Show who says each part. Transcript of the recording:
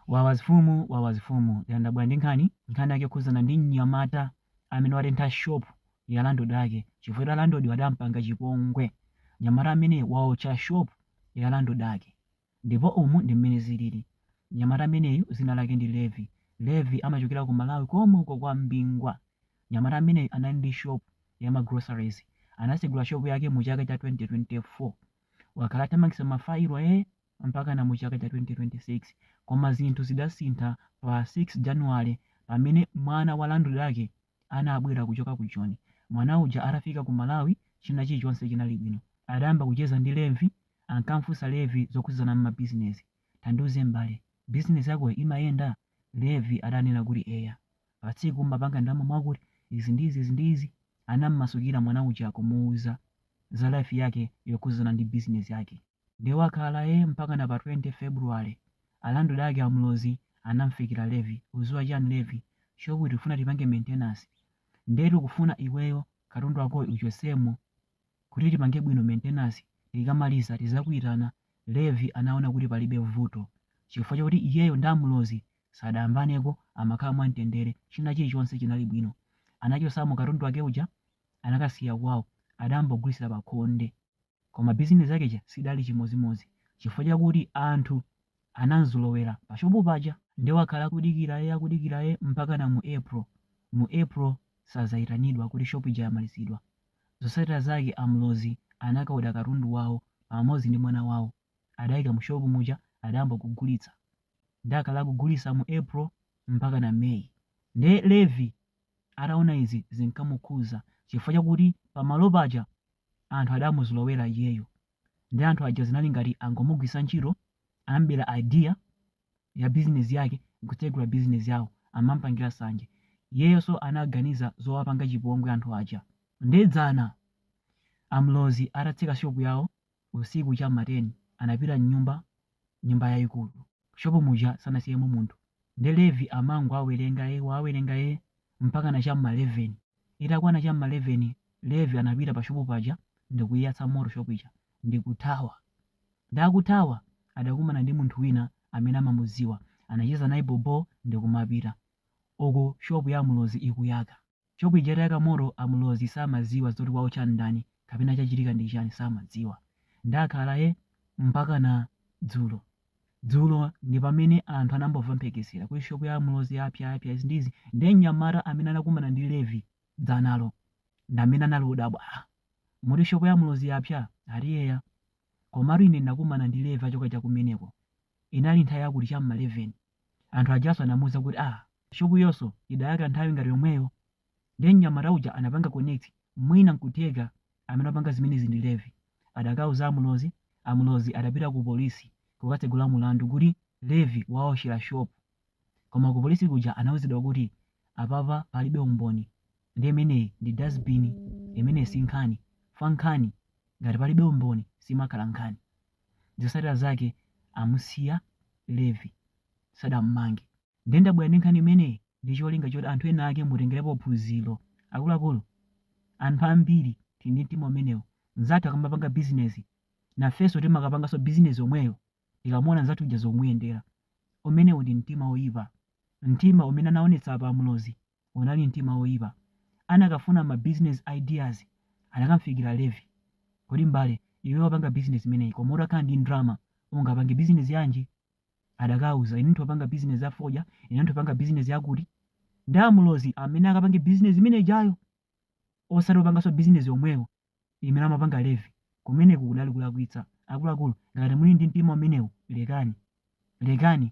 Speaker 1: Wawa zfumu wawa zfumu ya ndabwera ndi nkhani nkhani yake yokhuzana ndi mnyamata amene watentha shop ya landlord ake chifukwa choti a landlord adampanga chipongwe mnyamata ameneyi waotcha shop ya landlord ake ndipo umu ndi mmene zilili mnyamata ameneyu zina lake ndi Levi Levi amachokera ku Malawi komwe uko kwa Mbingwa mnyamata ameneyu anali ndi shop ya ma groceries anasegula shop yake mu chaka cha 2024 wakhala athamangitsa ma file ee mpakana mu chaka cha 2026 koma zinthu zidasintha pa 6 January pamene mwana wa landlord ake anabwera kuchoka ku Joni. Mwana uja atafika ku Malawi china chilichonse chinali bwino. Adayamba kucheza ndi Levi, ankamfunsa Levi zokhuzana m'ma business. Tandiuze m'bale, business yakoyo imayenda? Levi adanena kuti eya. pa tsiku umapanga ndalama mwakuti, izi ndi izi, izi ndi izi, anam'masukira mwana uja kumuuza za life yake yokhudzana ndi business yake. Nde wakhala ee mpakana pa 20 February, a landlord ake a Mlozi anam'fikira Levi, uziwa chani Levi, shop tikufuna tipange maintenance, nde tikufuna iweyo katundu wakoyu uchotsemo kuti tipange bwino maintenance, tikamaliza tizakuitana, Levi anaona kuti palibe vuto chifukwa chakuti iyeyo ndi a Mlozi sadayambaneko amakhala mwamtendere china chilichonse chinali bwino anachosamo katundu wake uja anakasiya kwawo adayamba kugulitsira pakhonde koma business yake ija sidali chimodzimodzi chifukwa chakuti anthu anamzolowera pashopu paja nde wakhala akudikira ee akudikira ee mpakana mu April mu April sadzaitanidwa kuti shop ija yamalizidwa zotsatira zake a Mlozi anakaoda katundu wawo pamodzi ndi mwana wawo adaika mu shop muja adayamba kugulitsa nde akhala akugulisa mu April mpakana May nde Levi ataona izi zinkamukhuza chifukwa chakuti pamalo paja anthu adamuzolowera iyeyo nde anthu aja zinali ngati angomugwisa ntchito anamubera idea ya business yake nkutsegula business yawo amamupangila sanje iyeyonso anaganiza zowapanga chipongwe anthu aja nde dzana a Mlozi atatseka shop yawo Usiku cha m'ma 10 anapita m'nyumba, nyumba yaikulu. M'shopu muja sanasiyemo munthu. Nde Levi amangowawerenga e, kuwawerenga e, mpakana cha m'ma 11. Itakwana cha m'ma 11, Levi anapita pashopu paja ndikuiyatsa moto shopu ija ndikuthawa. Nde akuthawa adakumana ndi munthu wina amene amamudziwa. Anacheza naye bhobo ndikumapita. Uku shopu ya a Mlozi ikuyaka. Shop ija itayaka moto a Mlozi samaziwa zoti waotcha ndani kapena chachitika ndi chani samadziwa. Nde akhala e mpakana dzulo dzulo ndipamene anthu anayamba kumva mphekesera kuti shop ya a Mlozi yapya yapya izi ndi izi nde mnyamata amene anakumana ndi Levi dzanalo ndamene anali odabwa ah muti shop ya a Mlozi yapya? Ati eya komatu ine ndinakumana ndi Levi achoka chakumeneko inali nthawi yakuti cha m'ma 11 Anthu ajanso anamuuza kuti ah, shopuyonso idayaka nthawi ngati yomweyo. Ndiye mnyamata uja anapanga connect, mwina n'kutheka amene apanga zimenezi ndi Levi. Adakauza a Mulozi, a Mulozi adapita kupolisi kukatsegula mulandu kuti Levi wawotchera shopu. Koma kupolisi kuja anauzidwa kuti, Apapa palibe umboni. Ndiye imeneyi ndi dustbin, imeneyi si nkhani. Fankhani, ngati palibe umboni simakhala nkhani. Zotsatira zake amusiya Levi sadammange. Nde ndabwera ndi nkhani imeneyi ndi cholinga choti anthu ena ake mutengerepo phunziro. Akuluakulu, anthu ambiri tili ndi mtima umenewu. Mnzathu akamapanga business, nafenso timakapanganso business yomweyo tikamuona mnzathu uja zomuyendera. Umenewu ndi mtima woipa. Mtima umene anaonetsa apa a Mulozi unali mtima woipa. Anakafuna ma business ideas anakamfikira Levi. Kodi m'bale, iwe wapanga business imeneyi koma utakhala ndi ndrama ungapange business yanji? Adakauza, ine nthopanga business ya fodya, ine nthopanga business yakuti. Nde a Mulozi amene akapange business imene ijayo osati opanganso business yomweyo imene amapanga Levi. Kumeneku kudali kulakwitsa. Akuluakulu, ngati muli ndi mtima umenewu lekani. Lekani.